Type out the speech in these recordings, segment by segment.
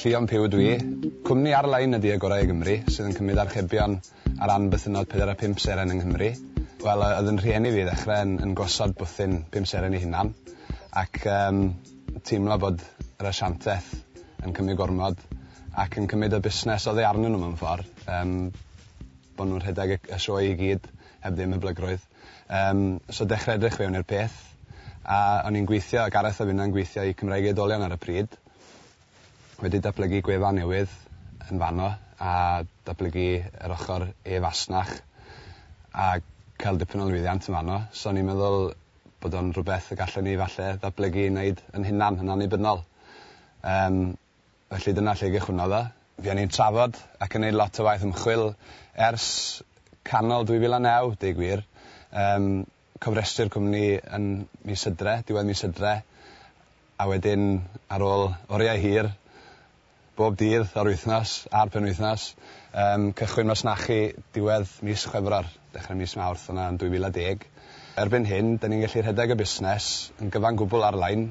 Llion Puw ydw i. Cwmni ar-lein ydy Agorau i Gymru, sydd yn cymryd archebion ar ran bythynnod pedair a phump seren yng Nghymru. Wel, yy, oedd yn rhieni fi i ddechrau yn yn gosod bwthyn pum seren ei hunan, ac yym teimlo bod yr asianteth yn cymryd gormod, ac yn cymryd y busnes oddi arnyn nhw mewn ffordd, yym bod nhw'n rhedeg y y sioe i gyd heb ddim hyblygrwydd. Yym, so dechre edrych fewn i'r peth. A o'n i'n gweithio, a Gareth a finna'n gweithio i Cymraeg Oedolion ar y pryd. Wedi datblygu gwefan newydd yn fanno a datblygu yr ochr e-fasnach a cael dipyn o lwyddiant yn fanno. So o'n i'n meddwl bod o'n rhywbeth y gallen ni falle ddatblygu i neud yn hunan, yn annibynnol. Yym. Felly dyna lle gychwynnodd o. Fuon ni'n trafod ac yn neud lot o waith ymchwil ers canol 2009, deu gwir. Yym, cofrestru'r cwmni yn mis Hydre, diwedd mis Hydre, a wedyn ar ôl oriau hir, bob dydd o'r wythnos a'r penwythnos, yym, cychwyn masnachu diwedd mis Chwefror, dechre mis Mawrth yna yn 2010. Erbyn hyn, 'da ni'n gallu rhedeg y busnes yn gyfan gwbl ar-lein,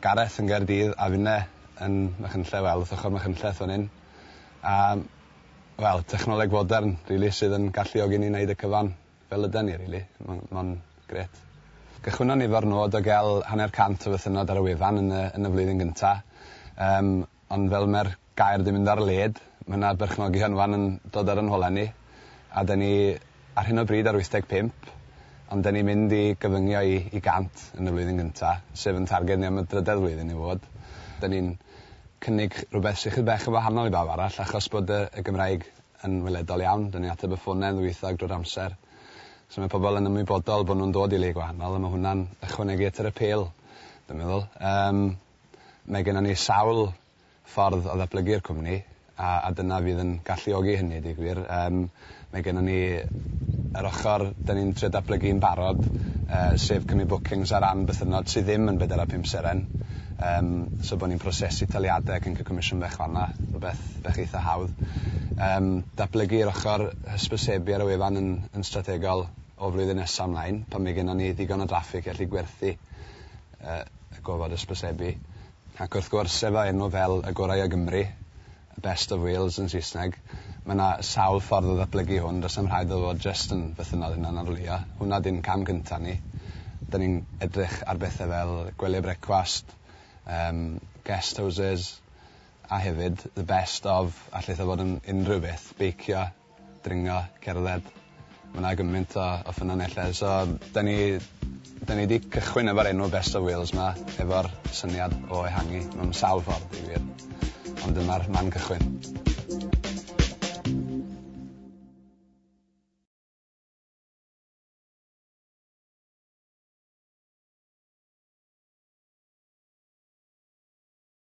Gareth yn Gaerdydd a finne yn Machynlleth wel wrth ochor Machynlleth fan 'yn a wel technoleg fodern rili sydd yn galluogi ni neud y cyfan fel yden ni rili ma'n ma'n grêt. Cychwynnon ni efo'r nod o ga'l hanner cant o fythynnod ar y wefan yn y yn y flwyddyn gynta yym Ond fel mae'r gair 'di mynd ar led, mae 'na berchnogi hynfan yn dod ar 'y nhole ni, a 'da ni ar hyn o bryd ar 85, ond 'da ni'n mynd i gyfyngio i i 100 yn y flwyddyn gynta', sef yn targed ni am y drydedd flwyddyn i fod. 'Da ni'n cynnig rhywbeth sy chydig bach yn wahanol i bawb arall, achos bod y y Gymraeg yn weledol iawn, 'da ni'n ateb y ffonau'n ddwyieithog drwy'r amser, so mae pobl yn ymwybodol bod nhw'n dod i le gwahanol, a ma' hwnna'n ychwanegu at yr apêl, dwi'n meddwl. Yym. Mae gennon ni sawl ffordd o ddatblygu'r cwmni a a dyna fydd yn galluogi hynny deu gwir. Yym mae gennon ni yr ochor 'dan ni'n trio datblygu yn barod yy sef cymryd bookings ar ran bythynnod sy ddim yn bedwar a phump seren yym so bo' ni'n prosesu taliade ac yn ca'l comisiwn bach fan 'na, rwbeth bach eitha hawdd. Yym datblygu yr ochor hysbysebu ar y wefan yn yn strategol o flwyddyn nesa mlaen pan mae gennon ni ddigon o draffig i allu gwerthu y gofod hysbysebu. Ac wrth gwrs, efo enw fel Y Gorau o Gymru, The Best of Wales yn Saesneg, mae 'na sawl ffordd o ddatblygu hwn, does na'm rhaid iddo fod jyst yn fythynnol hunanarlwyo. Hwnna ydy'n cam cynta' ni. Dan ni'n edrych ar bethe fel gwely brecwast, yym, guest houses, a hefyd, the best of, allith o fod yn unrhyw beth, beicio, dringo, cerdded. Ma' 'na gymaint o o ffynonellau so 'dan ni 'dan ni 'di cychwyn efo'r enw Best of Wales 'ma efo'r syniad o ehangu mewn sawl ffordd deud y gwir. Ond dyma'r man cychwyn.